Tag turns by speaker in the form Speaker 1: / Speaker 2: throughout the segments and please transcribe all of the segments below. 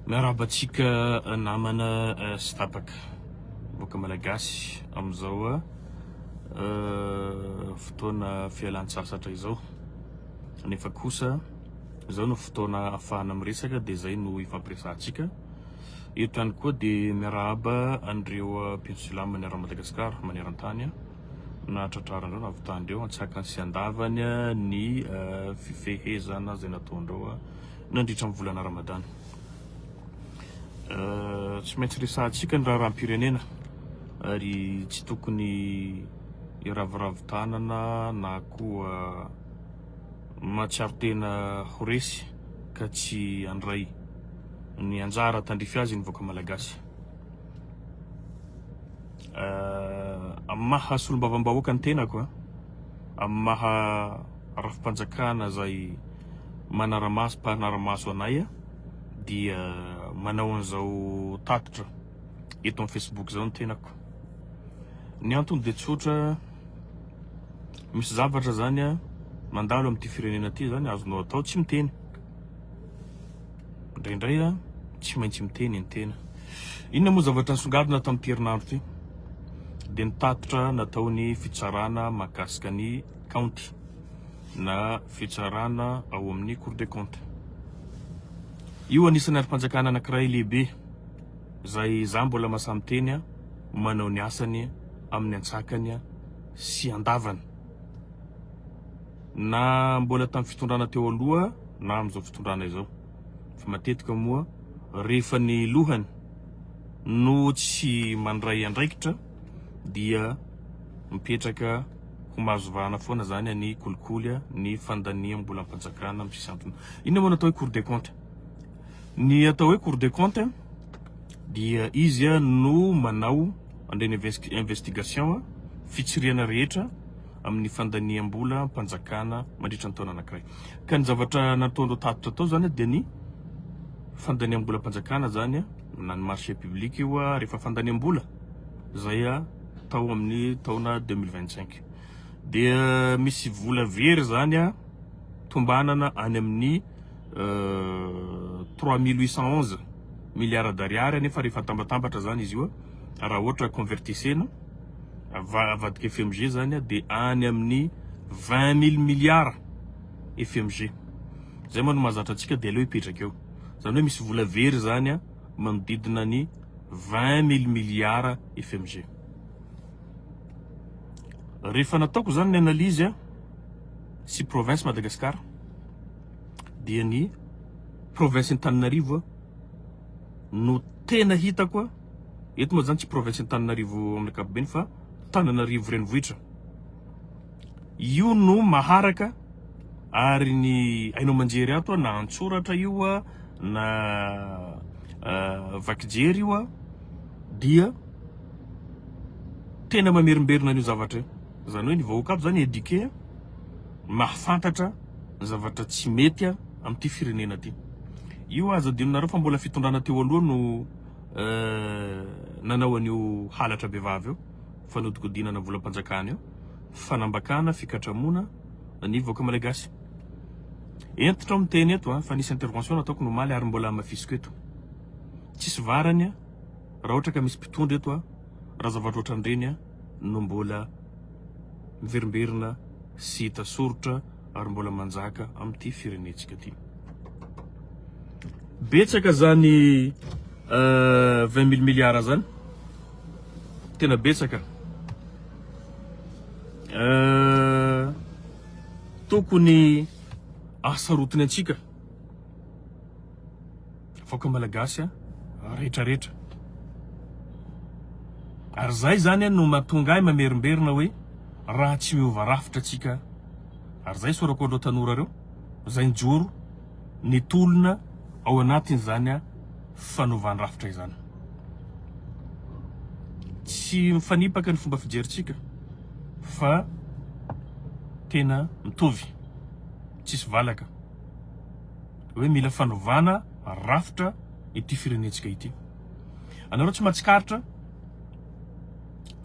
Speaker 1: Miarahaba antsika namana eh, sy tapaka boka malagasy amin'izao eh, eh, fotoana fialan-tsasatra izao nefa kosa izao no fotoana afahana miresaka dia izay no ifampiresahantsika eto ihany koa dia miarahaba an'ireo mpino silamina ara-madagasikara maneran-tany nahatratraran'ireo navitan'ireo antsakany sy andavany ny fifehezana izay nataon'ireo nandritra ny volana Ramadany. Tsy maintsy resahantsika ny raharaham-pirenena ary tsy tokony hiraviravy tanana na koa mahatsiaro tena ho resy ka tsy handray ny anjara tandrify azy ny vahoaka malagasy. eh, amin'ny maha solombavambahoaka ny tenako eh, amin'ny maha rafi-panjakana izay manaramaso mpanaramaso anay eh, dia manao an'izao tatitra eto amin'ny Facebook izao ny tenako ny antony dia tsotra misy zavatra zany a mandalo amin'ity firenena ty zany azonao atao tsy miteny Indraindray tsy maintsy miteny ny tena. Inona moa zavatra nisongadina tamin'ity herinandro ity? Dia ny tatitra nataon'ny fitsarana mahakasika ny kaonty na fitsarana ao amin'ny Cour des comptes. Io anisan'ny andrim-panjakana anankiray lehibe izay izaho mbola mahasahy miteny manao ny asany amin'ny antsakany sy andavany. Na mbola tamin'ny fitondrana teo aloha na amin'izao fitondrana izao. Fa matetika moa rehefa ny lohany no tsy mandray andraikitra dia mipetraka ho mahazo vahana foana izany ny kolikoly, ny fandaniam-bolam-panjakana amin'ny sisy antony. Inona moa no atao hoe Cour des comptes? Ny atao hoe Cour des comptes dia izy no manao an'ireny investigation fitsirihana rehetra amin'ny fandaniam-bola am-panjakana mandritra ny taona anankiray. Ka ny zavatra nataon'ireo tatitra tao izany dia ny fandaniam-bola am-panjakana izany na ny marché public io rehefa fandaniam-bola izay tao amin'ny taona 2025. Dia misy vola very izany tombanana any amin'ny 3811 euh, milliards d'ariary nefa rehefa tambatambatra izany izy io raha ohatra convertissena avadika FMG zany de any amin'ny vingt mille milliards FMG, zay moa no mahazatra antsika de aleo hipetraka eo, zany hoe misy vola very zany manodidina ny vingt mille milliards FMG. Rehefa nataoko zany ny analyse sy province Madagascar dia ny province Antananarivo no tena hitako Eto moa zany tsy province Antananarivo amin'ny ankapobeny fa Tananarivo renivohitra. Io no maharaka ary ny haino aman-jery ato na an-tsoratra io na vakijery io dia tena mamerimberina an'io zavatra io. Izany hoe ny vahoaka ato zany éduqué, mahafantatra ny zavatra tsy mety amin'ity firenena ity. Io aza adinonareo fa mbola fitondrana teo aloha no. nanao an'io halatra bevava io, fanodinkodinana volam-panjakana io, fanambakana, fikatramoana ny vahoaka Malagasy. Hentitra aho miteny eto fa nisy intervention nataoko ny omaly ary mbola hamafisiko eto. Tsisy varany raha ohatra ka misy mpitondra eto raha zavatra ohatran'ireny no mbola miverimberina sy hita soritra. ary mbola manjaka amin'ity firenentsika ity. Betsaka izany euh, vingt mille milliards izany, tena betsaka. Euh, tokony asarotiny antsika Vahoaka Malagasy a, rehetra rehetra. Ary zay zany a no mahatonga ahy mamerimberina hoe raha tsy miova rafitra tsika ary zay sorako anreo tanora reo zay njoro nitolona ao anatin zany a fanovan rafitra izany. Tsy mifanipaka ny fomba fijery tsika fa tena mitovy tsisy valaka. Hoe mila fanovana rafitra ity firenentsika ity. Anareo tsy mahatsikaritra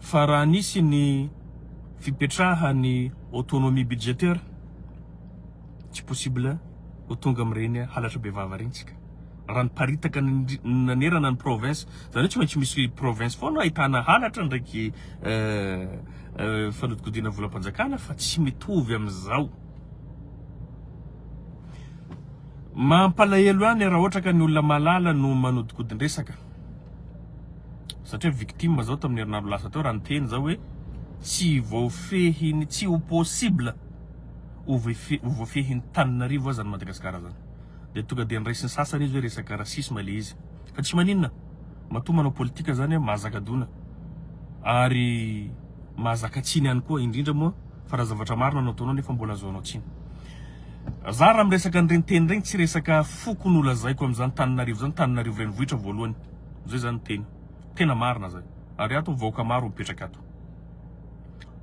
Speaker 1: fa raha nisy ny fipetrahan'ny autonomie budgétaire, tsy possible ho tonga amin'ireny halatra bevava ireny isika. Raha niparitaka nanerana ny province, izany hoe tsy maintsy misy province foana ahitana halatra ndraiky fanodikodiana volam-panjakana fa tsy mitovy amin'izao. Mampalahelo ihany raha ohatra ka ny olona mahalala no manodikodin-dresaka. Satria victime zao tamin'ny herinandro lasa teo raha niteny zah hoe tsy voafehin'ny, tsy ho possible ho voafe- ho voafehin'ny tanin'arivo aza ny Madagasikara zany. Dia tonga dia niraisin'ny sasany izy hoe resaka racisme le izy. Fa tsy maninona, matoa manao politika zany an, mahazaka dona ary mahazaka tsiny ihany koa indrindra moa. fa raha zavatra marina no ataonao nefa mbola azoanao tsiny. Za raha miresaka an'ireny teny ireny tsy resaka foko no lazaiko amin'izany tanin'arivo izany, tanin'arivo renivohitra voalohany zay zany teny tena marina zay ary ato vahoaka maro mipetraka ato.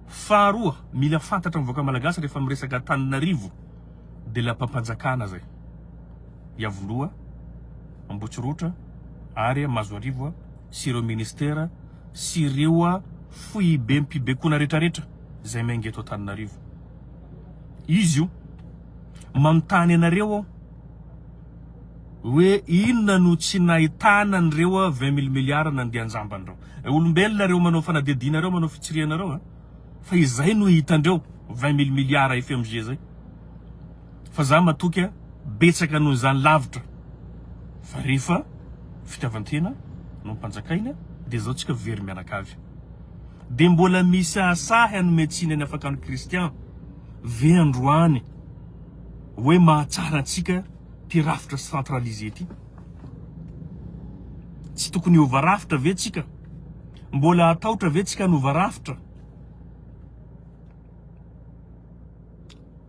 Speaker 1: Faharoa mila fantatra amin'ny vahoaka malagasy rehefa miresaka tanin'arivo de lapam-panjakana zay Iavoloha, Ambotsirotra ary Mazoarivo sy ireo ministera sy ireo foibem-pibekona retraretra. izay miainga eto Antananarivo. Izy io. Manontany anareo aho hoe inona no tsy nahitana an'ireo 20 mille milliards nandeha an-jambany ireo. Eh, olombelona ireo manao fanadihadiana ireo, manao fitsirihana ireo eh. Fa izay no hitandreo 20 mille milliards FMG izay. Fa za matoky eh, betsaka noho izany lavitra. Fa rehefa fitiavan-tena no mpanjakaina dia izao tsika very mianakavy. Dia mbola misahasahy hanome tsiny any afaka ny kristian ve androany hoe mahatsara antsika ty rafitra centralise ty? Tsy tokony hiova rafitra ve tsika? Mbola hataotra ve tsika hanova rafitra?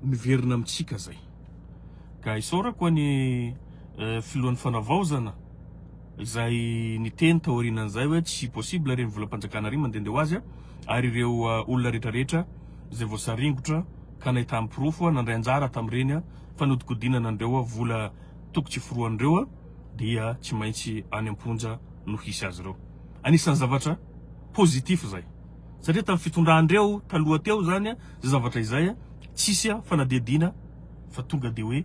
Speaker 1: Miverina amintsika zay. Ka isaorako any filohan'ny fanavaozana. izay niteny taorianan'izay hoe tsy possible ireny volam-panjakana ireny mandehandeha ho azy ary ireo olona rehetrarehetra izay voasaringotra ka nahitany porofo nandray anjara tamin'ireny fanodikodinana an'ireo vola toko tsy foroan'ireo dia tsy maintsy any am-ponja no hisy azy ireo. Anisan'ny zavatra positif izay satria tamin'ny fitondran'ireo taloha teo izany izay zavatra izay tsisy fanadihadiana fa tonga dia hoe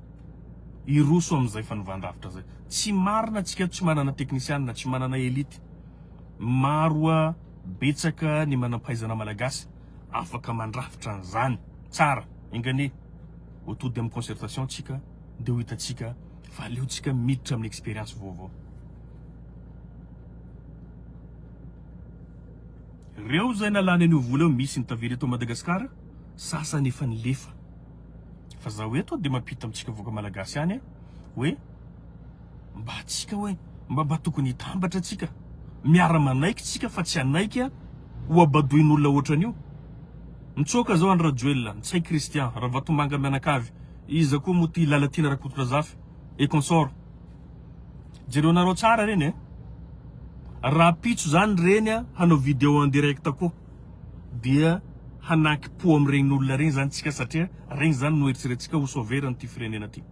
Speaker 1: Hiroso amin'izay fanovan-drafitra izay. Tsy marina tsika tsy manana teknisianina, tsy manana elite. Maro a, betsaka ny manam-pahaizana malagasy afaka mandrafitra an'izany tsara. Enga anie ho tody amin'ny concertation tsika dia ho hitantsika fa aleontsika miditra amin'ny expérience vaovao. Reo zay nalany an'io vola io misy ny tavela eto Madagascar, sasany efa nilefa. Fa zaho eto dia mampita amintsika vahoaka malagasy ihany hoe mba antsika hoe mba mba tokony hitambatra antsika, miara-manaiky tsika fa tsy hanaiky hohabadoin'olona ohatran'io. Mitsoaka zao Andry Rajoelina, Ntsay Christian, Ravatomanga mianakavy, iza koa moa ty Lalatiana Rakotondrazafy et consort. Jereonareo tsara reny eh. Rahampitso zany reny hanao video en direct koa. dia hanaky po amin'ireny olona ireny izany tsika satria ireny izany no eritreretintsika ho sauvera an'ity firenena ity.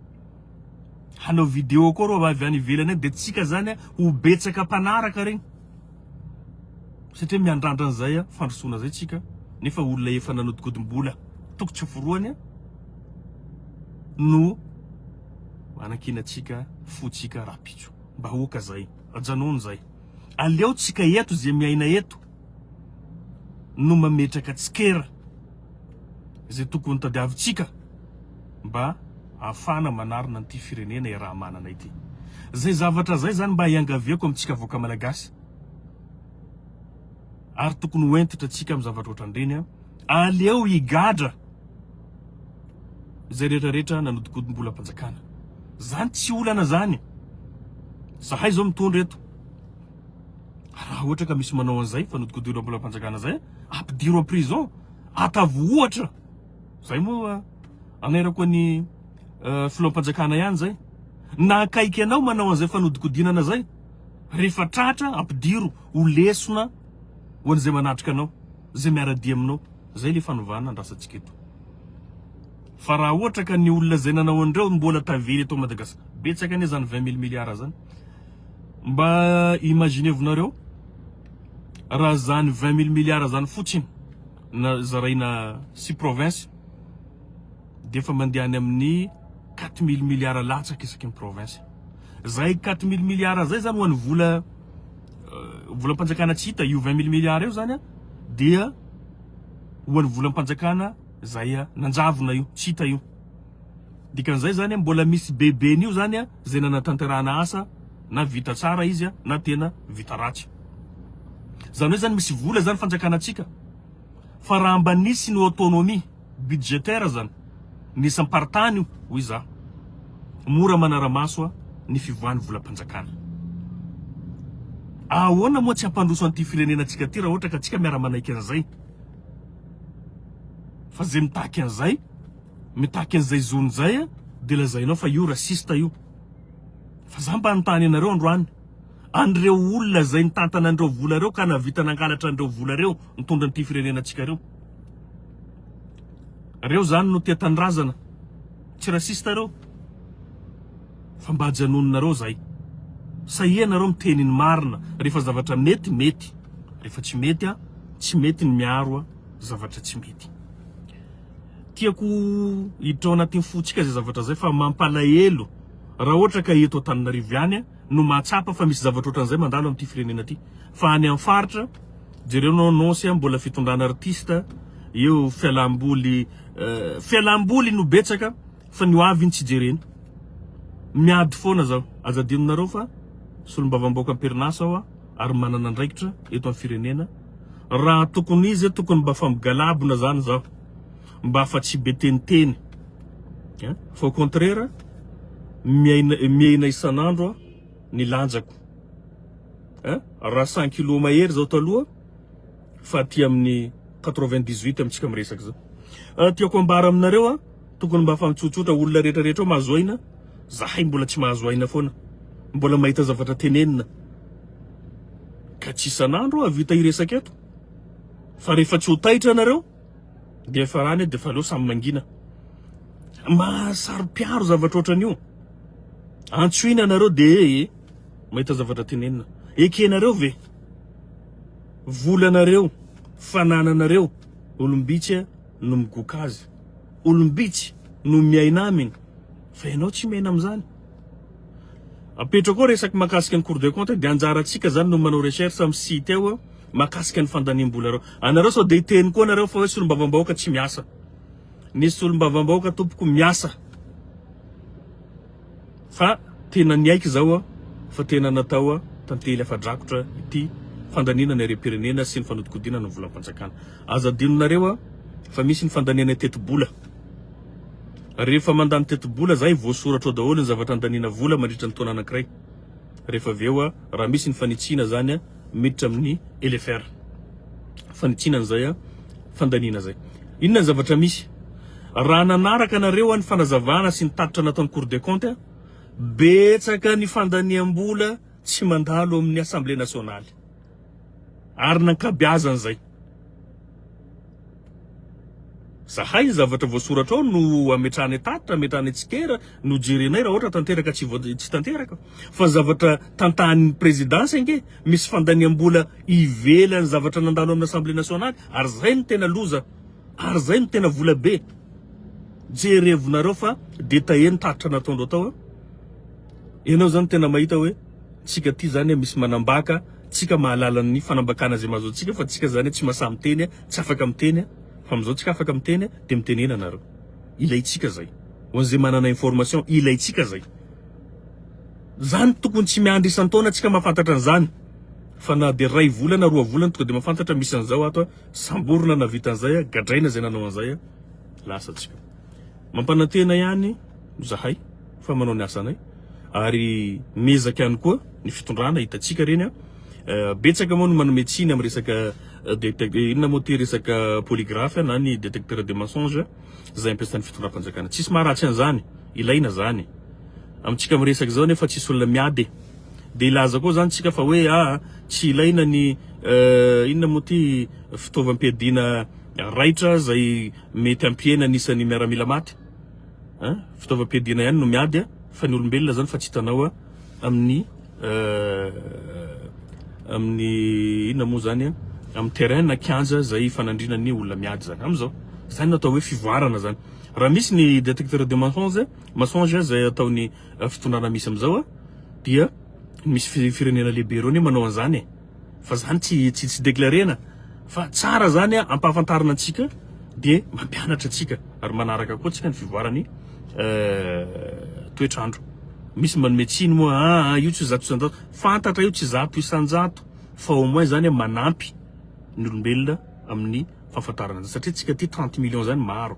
Speaker 1: Hanao video koa ireo avy any ivelany any dia tsika izany ho betsaka mpanaraka ireny satria miandrandra an'izay fandrosoana izay tsika nefa olona efa nanodikodim-bola toko tsy forohany no anankinantsika fontsika rahampitso. Mba aoka izay, ajanony izay. Aleontsika eto izay miaina eto. no mametraka tsikera izay tokony ho tadiavintsika mba hahafahana manarina an'ity firenena iaraha-manana ity. Izay zavatra izay izany mba iangaviako amintsika vahoaka Malagasy ary tokony ho hentitra antsika amin'ny zavatra ohatran'ireny. Aleo higadra izay rehetra rehetra nanodikodim-bolam-panjakana. Izany tsy olana izany. Izahay izao mitondra eto. Raha ohatra ka misy manao an'izay, fanodikodohina eo am-polam-panjakana izay, ampidiro am-prison, ataovy ohatra. Izay moa anerako ny uh, filoham-panjakana ihany izay. Na akaiky anao manao an'izay fanodinkodinana izay, rehefa tratra ampidiro ho lesona ho an'izay manatrika anao, izay miara-dia aminao. Izay ilay fanovana andrasantsika eto. Fa raha ohatra ka ny olona izay nanao an'ireo mbola tavela eto Madagasikara, betsaka anie izany 20 mille milliards izany. Mba imaginez-vonareo raha izany 20 mille milliards izany fotsiny na zaraina six provinces dia efa mandeha any amin'ny quatre mille milliards latsaka isaky ny province. Izay quatre mille milliards izay izany ho an'ny vola volam-panjakana tsy hita, io 20 mille milliards io izany dia ho an'ny volam-panjakana izay nanjavona io, tsy hita io. Dikan'izay zany mbola misy be be an'io zany a zay nanatanterahana asa na vita tsara izy a na tena vita ratsy. Zany hoe zany misy vola zany fanjakana antsika fa raha mba nisy ny autonomie budgétaire zany ny isam-paritany io hoy za mora manara-maso a ny fivoahan'ny volam-panjakana. Ahoana moa tsy hampandroso an'ity firenena antsika ty raha ohatra ka tsika miara-manaiky an'izay fa zay mitaky an'izay Mitaky an'izay zony zay a de lazainao fa io raciste io. Fa za mba anontany anareo androany, an'ireo olona zay nitantana an'ireo vola reo ka nahavita nangalatra an'ireo vola reo nitondra an'ity firenena antsika reo. Reo zany no tia tanindrazana, tsy raciste reo. Fa mba ajanononareo zay. Sahia nareo miteny ny marina refa zavatra mety mety, refa tsy mety a tsy mety ny miaro zavatra tsy mety. tiako hiditra ao anatin'ny fontsika izay zavatra izay fa mampalahelo raha ohatra ka eto Antananarivo ihany no mahatsapa fa misy zavatra ohatran'izay mandalo amin'ity firenena ity fa any amin'ny faritra jereo nao nose mbola fitondrana artista eo fialamboly eh, fialamboly no betsaka fa ny hoavy ny tsy jerena miady foana zao aza adinonareo fa solombavambaoka am-perinasa aho ary manana andraikitra eto amin'ny firenena Raha tokony izy tokony mba fa migalabona zany zaho mba fa tsy be teniteny a! Fa au contraire miaina miaina isan'andro aho ny lanjako a! Raha cent kilos mahery zao taloha fa aty amin'ny quatre vingt dix huit amintsika miresaka zao. Tiako ambara aminareo a! Tokony mba afahatsotsotra olona rehetra rehetra ao mahazo aina, zahay mbola tsy mahazo aina foana, mbola mahita zavatra tenenina ka tsy isan'andro ahavita hiresaka eto fa rehefa tsy ho taitra ianareo dia efa rany dia efa aleo samy mangina. Mahasaro-piaro zavatra ohatran'io. Antsoina ianareo dia eh, mahita zavatra tenenina. Ekenareo ve? Volanareo, fanananareo, olom-bitsy no migoka azy. Olom-bitsy no miaina aminy fa ianao tsy miaina amin'izany. Apetrao koa resaky mahakasika ny cours de compte dia anjarantsika zany no manao recherche amin'ny site ao mahakasika ny fandaniam-bolareo. Anareo sao dia hiteny koa nareo fa hoe solombavambahoaka tsy miasa. Ny solombavambahoaka tompoko miasa. Fa tena niaiky izao aho fa tena natao tantely afa-drakotra ity fandaniana ny harem-pirenena sy ny fanodikodinana ny volam-panjakana. Aza adinonareo fa misy ny fandaniana tetibola. Rehefa mandany tetibola zay voasoratra ao daholo ny zavatra andaniana vola mandritra ny taona anankiray. Rehefa avy eo raha misy ny fanitsiana zany miditra amin'ny LFR. Fanitsiana an'izay fandaniana izay. Inona ny zavatra misy? Raha nanaraka anareo ny fanazavana sy ny tatitra nataon'ny Cour des comptes, betsaka ny fandaniam-bola tsy mandalo amin'ny Assemblée nationale ary ny ankabeazan'izay. Zahay ny zavatra voasoratra ao no ametrahany an-tatitra, ametrahany an-tsikera, no jerenay raha ohatra tanteraka tsy voa- tsy tanteraka. Fa ny zavatra tantahan'ny Présidence ange, misy fandaniam-bola ivelan'ny zavatra nandalo amin'ny Assemblée Nationale, ary zay no tena loza, ary zay no tena vola be. Jerevonareo fa détaillé ny tatitra nataondreo tao a! Ianao zany tena mahita hoe. Tsika ty zany misy manambaka tsika mahalala ny fanambakana zay mahazo antsika fa tsika zany tsy masaha miteny tsy afaka miteny fa amizao tsika afaka miteny de mitenena nareo ilaitsika zay ho anzay manana information ilaitsika zay zany tokony tsy miandry isan-taona tsika mahafantatra anzany fa na de ray volana roa volana tonga de mahafantatra misy anzao ato samborina na vita anzay gadraina zay nanao anzay lasa tsika mampanantena ihany zahay fa manao ny asanay ary miezaka ihany koa ny fitondrana hitantsika reny a betsaka moa no manome tsiny amin'ny resaka inona moa ty resaka polygraphe na ny détecteur de mensonge izay ampiasan'ny fitondram-panjakana tsisy maharatsy an'izany ilaina zany amintsika miresaka izao nefa tsisy olona miady dia ilaza koa zany tsika fa hoe ah tsy ilaina ny inona moa ty fitaovam-piadiana raitra izay mety hampihena anisan'ny miaramila maty A, fitaovam-piadiana ihany no miady a, fa ny olombelona zany fa tsy hitanao a amin'ny eh, amin'ny inona moa zany a, amin'ny terrain na kianja zay ifanandriana ny olona miady zany amin'izao. Zany no atao hoe fivoarana zany. Raha misy ny detecteur de mensonge, mensonge zay ataon'ny eh, fitondrana misy amin'izao a, dia misy fi- firenena lehibe ireo anie manao an'izany e. Fa zany tsy tsy tsy declarena fa tsara zany a ampahafantarina antsika de mampianatra antsika ary manaraka koa tsika ny fivoarany toetrandro misy manome tsiny moa aa ah, io tsy zato isanjato fantatra io tsy zato isanjato fa au moins zany a manampy ny olombelona amin'ny fahafantarana azy satria tsika ty trente millions zany maro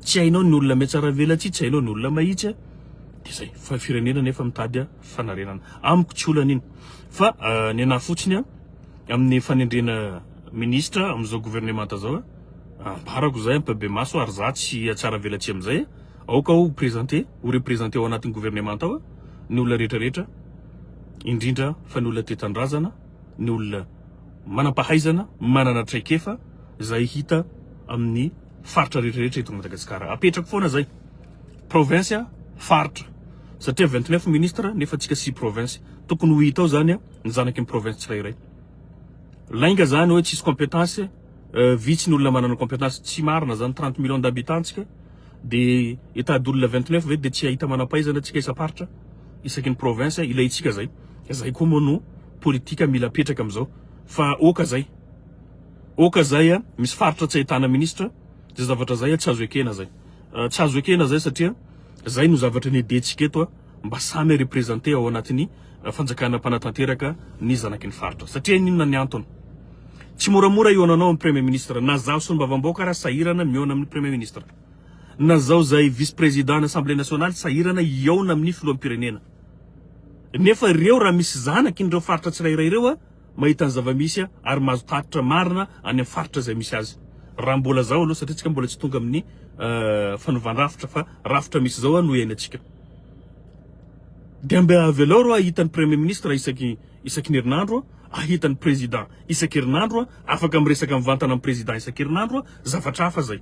Speaker 1: tsy hainao ny olona metsaravelatsia tsy hainao ny olona mahitsy a de zay fa firenena nefa mitady a fanarenana. Amiko tsy olana iny fa ny anah fotsiny amin'ny fanendrena ministra amin'izao gouvernemanta zao ambarako zay ampabemaso ary za tsy hatsaravelatsihy amin'izay aoka aho ho presente ho represente ao anatin'ny gouvernemanta ao ny olona rehetra rehetra indrindra fa ny olona tetandrazana ny olona manampahaizana manana traikefa zay hita amin'ny faritra rehetra rehetra eto Madagasikara apetrako foana zay Province, faritra. Satria vingt neuf ministres nefa antsika six provinces. Tokony ho hita ao zany ny zanaky ny province tsirairay. Lainga zany hoe tsisy competence, vitsy ny olona manana competence, tsy marina zany, trente millions d'habitants tsika, de état d'olona vingt neuf ve de tsy hahita manampahaizana tsika isam-paritra, isaky ny province, ilaintsika zay. Zay koa moa no politika mila apetraka amzao. Fa oka zay, oka zay misy faritra tsy ahitana ministre, zay zavatra zay tsy azo ekena zay. Tsy azo ekena izay satria izay no zavatra nedentsika eto a, mba samy representer ao anatin'ny fanjakana mpanatanteraka ny zanaky ny faritra. Satria inona ny antony? Tsy moramora hihaona anao ny premier ministre, na zaho solombavambaoka ara sahirana mihaona amin'ny premier ministre. Na zaho izay vice president an'assemblée nationale sahirana hihaona amin'ny filoham-pirenena. Nefa ireo raha misy zanaky ireo faritra tsirairay ireo a, mahita ny zava-misy ary mahazo tatitra marina any amin'ny faritra izay misy azy raha mbola zao aloha satria tsika mbola tsy tonga amin'ny fanovan-drafitra fa rafitra misy zao no iainantsika dia mba avelao reo ahita ny premier ministre isaky isaky ny herinandro ahita ny président isaky herinandro afaka miresaka mivantana amin'ny président isaky herinandro zavatra hafa zay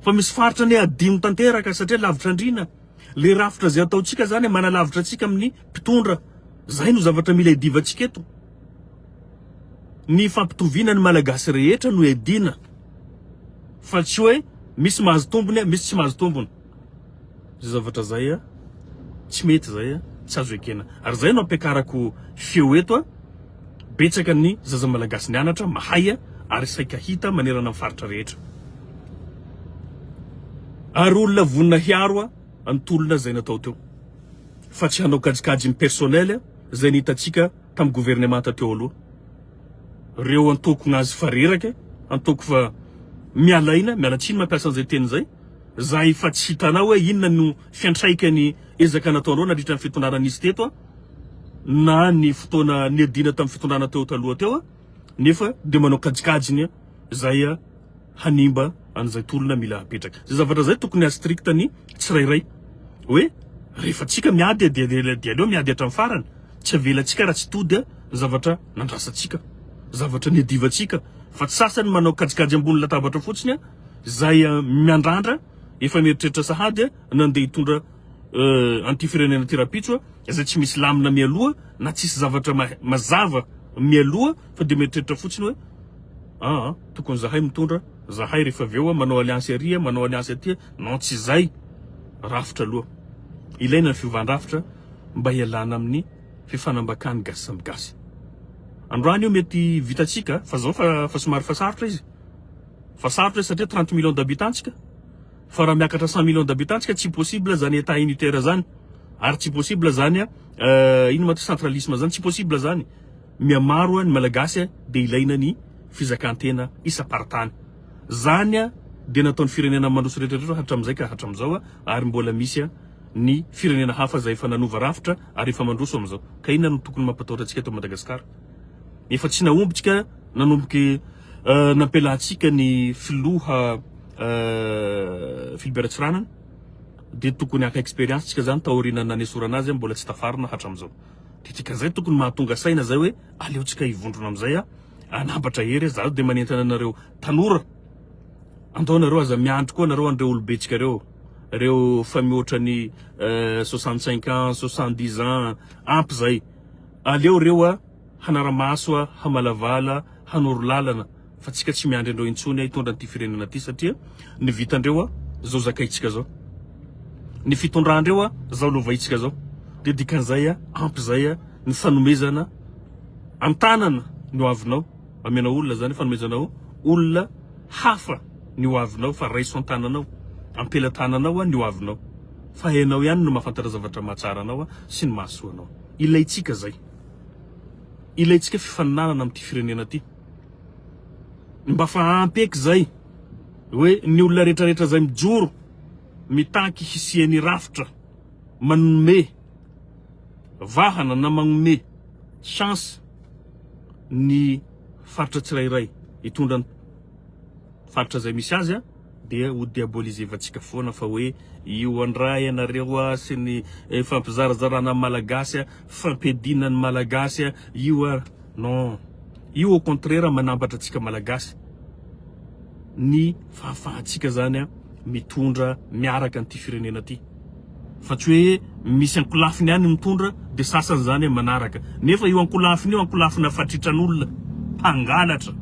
Speaker 1: fa misy faritra ny adino tanteraka satria lavitra andriana le rafitra zay ataontsika zany manalavitra antsika amin'ny mpitondra Zay no zavatra mila iadivantsika eto. Ny fampitoviana ny Malagasy rehetra no iadiana fa tsy hoe misy mahazo tombony, misy tsy mahazo tombony. Zay zavatra zay a, tsy mety zay a, tsy azo ekena. Ary zay no ampiakarako feo eto a, betsaka ny zaza Malagasy nianatra, mahay a, ary saika hita manerana ny faritra rehetra. Ary olona vonona hiaro a. Ny tolona izay natao teo fa tsy hanao kajikajy ny personnel izay ny hitantsika tamin'ny gouvernemanta teo aloha. Ireo antoko nazy fa reraka, antoko fa miala aina, miala tsiny mampiasa an'izay teny izay, za efa tsy hitanao hoe inona no fiantraikan'ny ezaka nataonao nandritra ny fitondrana nisy teto na ny fotoana niadiana tamin'ny fitondrana teo taloha teo nefa dia manao kajikajy ny izay hanimba an'izay tolona mila apetraka. Zay zavatra zay tokony ha strict ny tsirairay hoe rehefa tsika miady dia dia aleo miady hatramin'ny farany, tsy avelantsika raha tsy tody ny zavatra nandrasantsika, zavatra niadivantsika fa tsy sasany manao kajikajy ambony latabatra fotsiny zay miandrandra efa mieritreritra sahady nandeha hitondra an'ity firenena ity rapitso zay tsy misy lamina mialoha na tsisy zavatra mazava mialoha fa dia mieritreritra fotsiny hoe aa. Tokony zahay mitondra zahay rehefa avy eo manao alliance aria manao alliance aty non tsy zay rafitra aloha ilaina ny fiovan-drafitra mba hialana amin'ny fifanambakan'ny gasy samy gasy androany io mety vitatsika fa zao fa fa somary fa sarotra izy fa sarotra izy satria 30 millions d'habitants tsika fa raha miakatra 100 millions d'habitants tsika tsy possible zany état unitaire zany ary tsy possible zany euh, ino ma ty centralisme zany tsy possible zany Mihamaro a ny malagasy a dia ilaina ny fizakantena isam-paritany. Zany a dia nataon'ny firenena mandroso retraretra hatramizay ka hatramizao a ary mbola misy a ny firenena hafa zay efa nanova rafitra ary efa mandroso amizao. Ka inona no tokony mampatahotra antsika eto Madagascar? Efa tsy nahombitsika nanomboky a nampialantsika ny filoha a Philbert Ratsiranana dia tokony haka experience tsika zany taoriana nanesorana azy a mbola tsy tafarina hatramizao. Dikan'izay tokony mahatonga saina izay hoe aleontsika hivondrona amin'izay a, hanambatra hery a, zaho dia manentana anareo tanora, andao nareo aza miandry koa nareo an'ireo olom-betsika ireo, ireo efa mihoatra ny soixante cinq ans, soixante dix ans, ampy izay, aleo ireo a hanara-maso a, hamalavala, hanoro lalana. Fa tsika tsy miandry andreo intsony a hitondra an'ity firenena ty satria ny vitandreo a zao zakaintsika zao ny fitondrandreo a zao lovaintsika zao de dikan'izay a ampy zay a ny fanomezana antanana ny ho avinao amenao olona zany fanomezanao olona hafa ny ho avinao fa raiso antananao ampelatananao a ny ho avinao fa enao ihany no mahafantatra zavatra mahatsara anao a sy ny mahasoa anao ilaintsika zay ilaintsika fifaninanana am'ty firenena ty Mba fa ampy eky zay hoe ny olona retraretra zay mijoro mitaky hisiany rafitra manome vahana na magnome chance ny faritra tsirairay hitondra ny faritra zay misy azy a. Dia ho diabolisevantsika foana fa hoe io andra ianareo a sy ny fampizarazarana ny malagasy a, fampiadiana ny malagasy a, io a. Non, io au contraire manambatra antsika malagasy ny fahafahantsika zany a mitondra miaraka an'ity firenena ty. Fa tsy hoe misy ankolafiny any mitondra dia sasany izany manaraka. Nefa io ankolafiny io ankolafina fatritran'olona mpangalatra.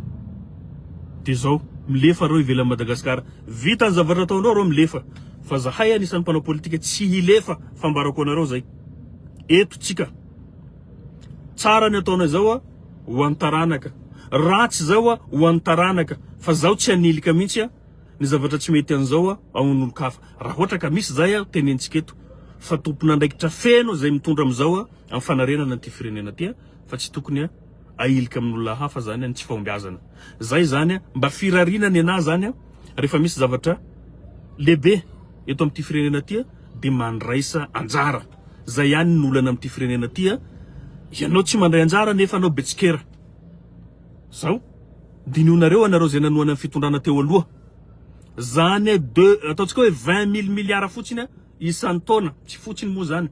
Speaker 1: Dia izao, milefa reo ivelan'i Madagasikara. Vita ny zavatra ataonareo reo milefa. Fa zahay anisan'ny mpanao politika tsy hilefa fambarako anareo izay. Eto tsika. Tsara ny ataonay izao a, ho an'ny taranaka. Ratsy izao a, ho an'ny taranaka. Fa zaho tsy hanilika mihitsy a. Ny zavatra tsy mety an'izao ao amin'olon-kafa, raha ohatra ka misy izay, tenentsika eto fa tompon'andraikitra feno izay mitondra amin'izao amin'ny fanarenana an'ity firenena ity fa tsy tokony ahilika amin'olona hafa izany ny tsy fahombiazana. Izay izany mba firariana nenà izany rehefa misy zavatra lehibe eto amin'ity firenena ity dia mandraisa anjara. Izay ihany ny olana amin'ity firenena ity, ianao tsy mandray anjara nefa anao betsikera. Zao. Dinionareo anareo zay nanohana ny fitondrana teo aloha. Zane de ataontsika hoe vingt mille milliards fotsiny a isan-taona, tsy fotsiny moa zany.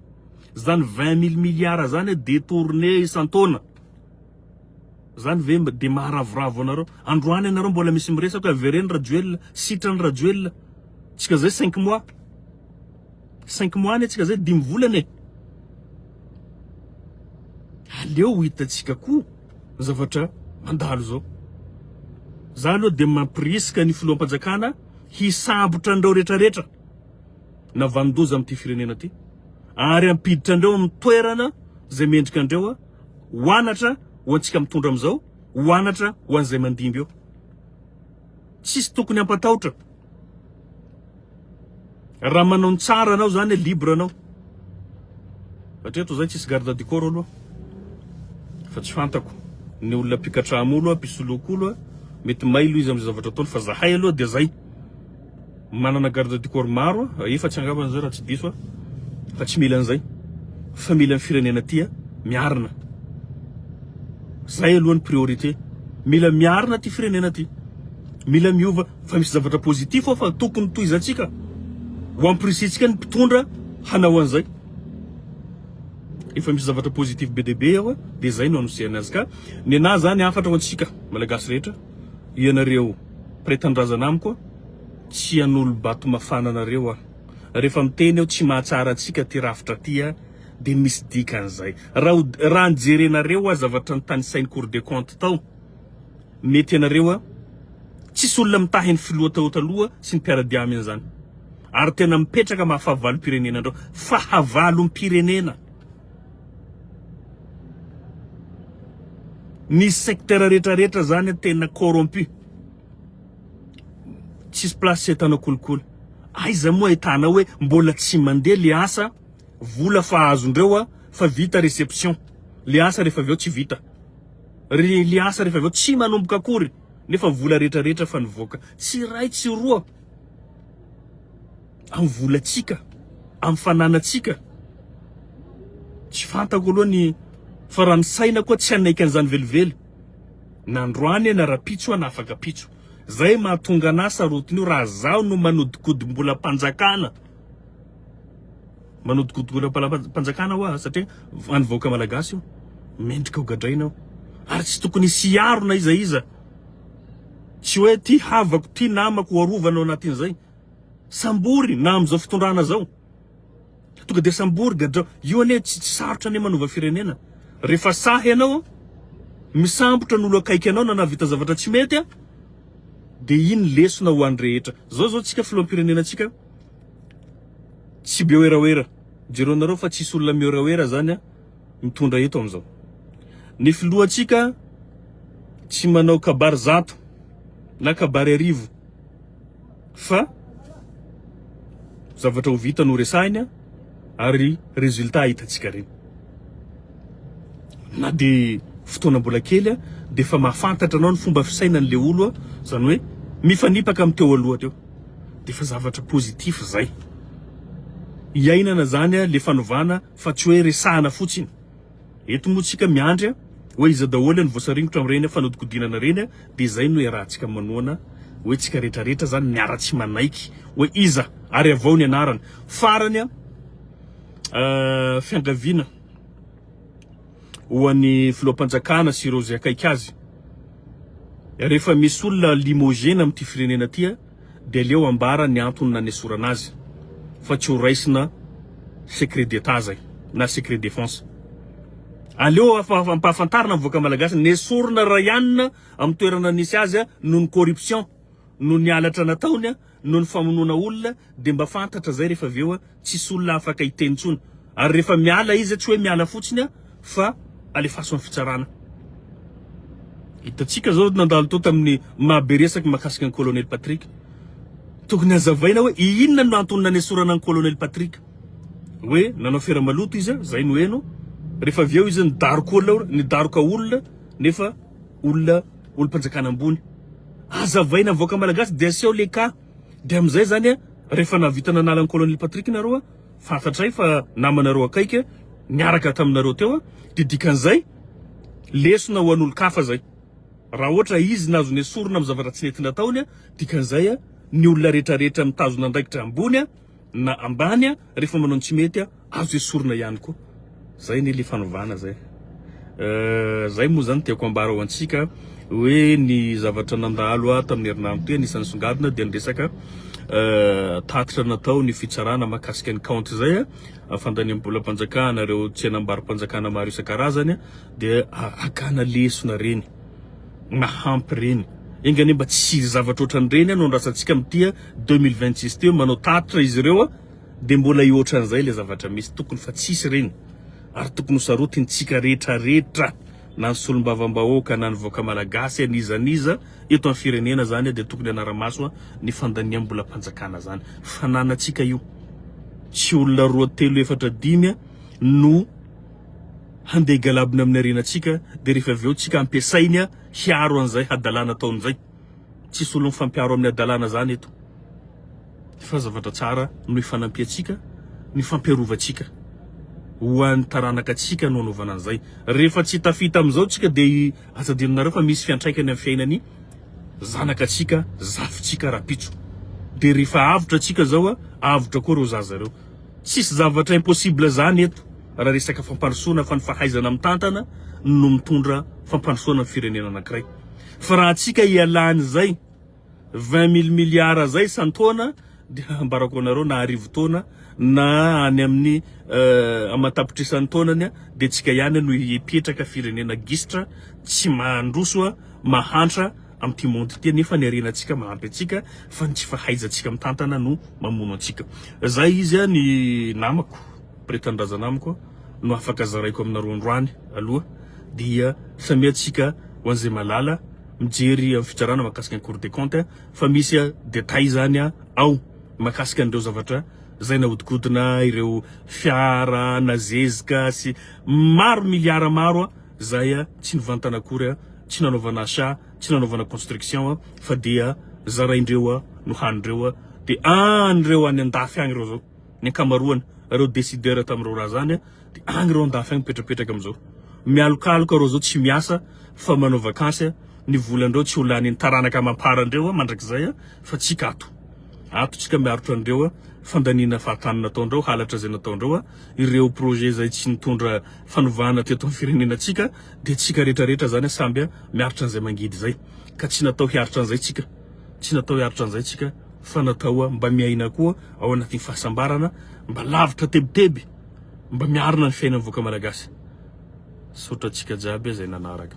Speaker 1: Zany vingt mille milliards zany a detourner isan-taona. Zany ve mba de maharavoravo anareo. Androany anareo mbola misy miresaka hoe avereno Rajoelina, sitrany Rajoelina. Tsika zay cinq mois. Cinq mois anie tsika zay dimy volana e! Aleo ho itantsika koa ny zavatra mandalo zao. Za aloha dia mampirisika ny filoham-panjakana hisambotra an'ireo retraretra navandoza amin'ity firenena ity ary hampiditra andreo amin'ny toerana izay mendrika andreo a! Ho anatra ho antsika mitondra amin'izao, ho anatra ho an'izay mandimby eo. Tsisy tokony hampatahotra Raha manao ny tsara anao zany hoe libre anao. Hatreto zay tsisy garde du corps aloha fa tsy fantako ny olona mpikatrahamo aloha mpisoloako aloha mety mailo izy amzay zavatra ataony fa zahay aloha dia zay. Manana garde du corps maro a, efatsy angamba zay raha tsy diso a, fa tsy mila an'izay fa mila ny firenena tia miarina, zay aloha ny priorité, mila miarina ty firenena ty, mila miova fa misy zavatra positif ao fa tokony tohizantsika, ho ampirisihintsika ny mpitondra hanao an'izay, efa misy zavatra positif be dia be ao a, de zay no anosihana azy ka nenà zany hafatra ho antsika malagasy rehetra. Ianareo mpiray tanindrazana amiko tsy hanolo-bato mafana anareo aho. Rehefa miteny aho tsy mahatsara antsika aty rafitra aty aho dia misy dikany izay. Raha raha ny jerenareo aho zavatra nitanisain'ny cour des comptes tao mety ianareo aho tsisy olona mitahy ny filoha tao taloha sy ny mpiara-dia aminy izany ary tena mipetraka maha fahavalom-pirenena anareo. Fahavalom-pirenena. Ny secteur rehetra rehetra zany a tena corrompu. Tsisy place tsy ahitanao kolikoly. Aiza moa ahitanao hoe mbola tsy mandeha le asa, vola fa azondreo a fa vita reception. Le asa rehefa avy eo tsy vita. Ry le asa rehefa avy eo tsy manomboka akory nefa vola rehetra rehetra fa nivoaka. Tsy iray tsy roa. amin'ny volantsika, amin'ny fananantsika. Tsy fantako aloha ny fa raha ny saina koa tsy hanaiky an'izany velively na androany aho na rahampitso aho na afaka ampitso. Zay mahatonga anah sarotiny io raha zaho no manodikodim-bolam-panjakana, manodikodim-bolam-panjakana hoa satria an'ny vahoaka malagasy io, mendrika ho gadraina io ary tsy tokony hisy hiaro na iza iza, tsy hoe ty havako, ty namako ho arovana ao anatin'izay. Sambory na amin'izao fitondrana zao. Tonga dia sambory gadrao. Io anie tsy tsy sarotra anie manova firenena. Rehefa sahy ianao misambotra ny olo akaiky anao na nahavita zavatra tsy mety a de iny lesona ho an'ny rehetra. Zao zao tsika filoham-pirenena tsika tsy be werawera. Jereo nareo fa tsisy olona miwerawera zany a mitondra eto amin'izao. Ny filohantsika tsy manao kabary zato na kabary arivo. fa zavatra ho vita no resahina ary résultat hitantsika reny. Na dia fotoana mbola kely dia efa mahafantatra anao ny fomba fisainan'ilay olo, izany hoe mifanipaka amin'ny teo aloha teo. Dia efa zavatra positif izay. Iainana izany ilay fanovana fa tsy hoe resahana fotsiny. Eto moa tsika miandry a, oe iza daholo ny voasaringotra amin'ireny fanodikodinana ireny a, dia izay no iarahantsika manoana oe tsika rehetra rehetra zany miaratsy manaiky oe iza ary avao ny anarana farany a fiangaviana ho an'ny filoham-panjakana sy ireo izay akaiky azy rehefa misy olona limogena amin'ity firenena ty a. dia aleo ambara ny antony nanesorana azy fa tsy ho raisina secret d'Etat zay na secret défense. Aleo ampahafantarina ny vahoaka malagasy nesorina Rayann amin'ny toerana nisy azy noho ny corruption, noho ny halatra nataony, noho ny famonoana olona dia mba fantatra zay rehefa avy eo. tsisy olona afaka hiteny intsony ary rehefa miala izy tsy hoe miala fotsiny fa alefaso amin'ny fitsarana. Hitantsika zao nandalo tao tamin'ny maha be resaka mahakasika an'i Colonel Patrick. Tokony hazavaina hoe inona no antony nanesorana an'i Colonel Patrick. Hoe nanao afera maloto izy, zay no heno, rehefa avy eo izy nidaroka olona, nidaroka olona nefa olona olom-panjakana ambony. Hazavaina vahoaka malagasy dia aseho le cas. Dia amin'izay izany an, rehefa nahavita nanala an'i Colonel Patrick nareo an, fantatray fa namanareo akaiky an, niaraka taminareo teo an, dia dikan'izay lesona ho an'olon-kafa izay. Raha ohatra izy nahazo nesorina amin'ny zavatra tsy nety nataony an, dikan'izay an, ny olona rehetra rehetra mitazona andraikitra ambony an, na ambany a rehefa manao ny tsy mety a azo esorina ihany koa zay anie le fanovana zay Euh, zay moa zany tiako ambara ho antsika hoe ny zavatra nandalo ato tamin'ny herinandro teo anisan'ny songadina dia ny resaka euh, tatitra natao ny fitsarana makasika ny kaonty izay a fandaniam-bolam-panjakana ireo tsenam-barom-panjakana maro isan-karazany a, dia a- akana lesona reny mahampy reny enganie mba tsy zavatra ohatran'ireny a no andrasantsika mitia Deux mille vingt six teo manao tatitra izy ireo a! Dia mbola hihoatra an'izay ilay zavatra misy, tokony fa tsisy ireny ary tokony ho sarotintsika rehetrarehetra na ny solombavambahoaka na ny vahoaka malagasy n'iza n'iza eto amin'ny firenena zany dia tokony hanara-maso ny fandaniam-bolam-panjakana zany fananantsika io tsy olona roa telo efatra dimy a no handeha galabina amin'ny arenantsika dia rehefa avy eo tsika ampiasainy a hiaro an'izay hadalana ataon'izay Tsy solo mifampiaro amin'ny hadalana zany eto fa zavatra tsara no ifanampiantsika no ifampiarovantsika ho an'ny taranaka tsika no anaovana an'izay. Rehefa tsy tafita amin'izao tsika de atadininareo fa misy fiantraikany amin'ny fiainan'ny zanaka tsika, zafintsika rapitso. De rehefa avotra tsika zao a, avotra koa reo zaza reo. Tsisy zavatra impossible zany eto raha resaka fampandrosoana fa ny fahaizana mitantana no mitondra fampandrosoana ny firenena anankiray. Fa raha antsika ialany zay vingt mille milliards zay isan-taona dia ambarako anareo na arivo taona na any amin'ny aman-tapitrisany taonany dia antsika ihany no hipetraka firenena gisitra tsy mandroso mahantra amin'ity monde ity nefa ny harenantsika mahampy antsika fa ny tsy fahaizantsika mitantana no mamono antsika. Zay izy ny namako, Mpiretanindrazana amiko. no afaka zaraiko aminareo androany aloha dia samia tsika ho an'izay malala mijery amin'ny fitsarana makasika ny cour des comptes fa misy details zany ao makasika an'ireo zavatra zay nahodikodina ireo fiara nazezika sy maro milliards maro zay tsy nivantana akory tsy nanaovana achat tsy nanaovana construction fa dia zaraindreo no hanindreo dia an'ireo any andafy any ireo zao ny ankamaroany reo decideur tamin'ireo raha zany dia any reo andafy any mipetrapetraka amin'izao mialokaloka reo zao tsy miasa fa manao vakansy ny volandreo tsy ho lanin'ny taranaka amamparan-dreo mandrakizay fa tsika ato ato tsika miarotra andreo fandaniana fahatany nataondreo halatra izay nataondreo ireo projet izay tsy nitondra fanovana teto amin'ny firenena tsika dia tsika rehetrarehetra zany samby miaritra an'izay mangidy izay ka tsy natao hiaritra an'izay tsika Tsy natao hiaritra an'izay tsika fa natao mba miaina koa ao anatin'ny fahasambarana mba lavitra tebiteby mba miarina ny fiainan'ny vahoaka malagasy. Misaotra antsika jiaby zay nanaraka.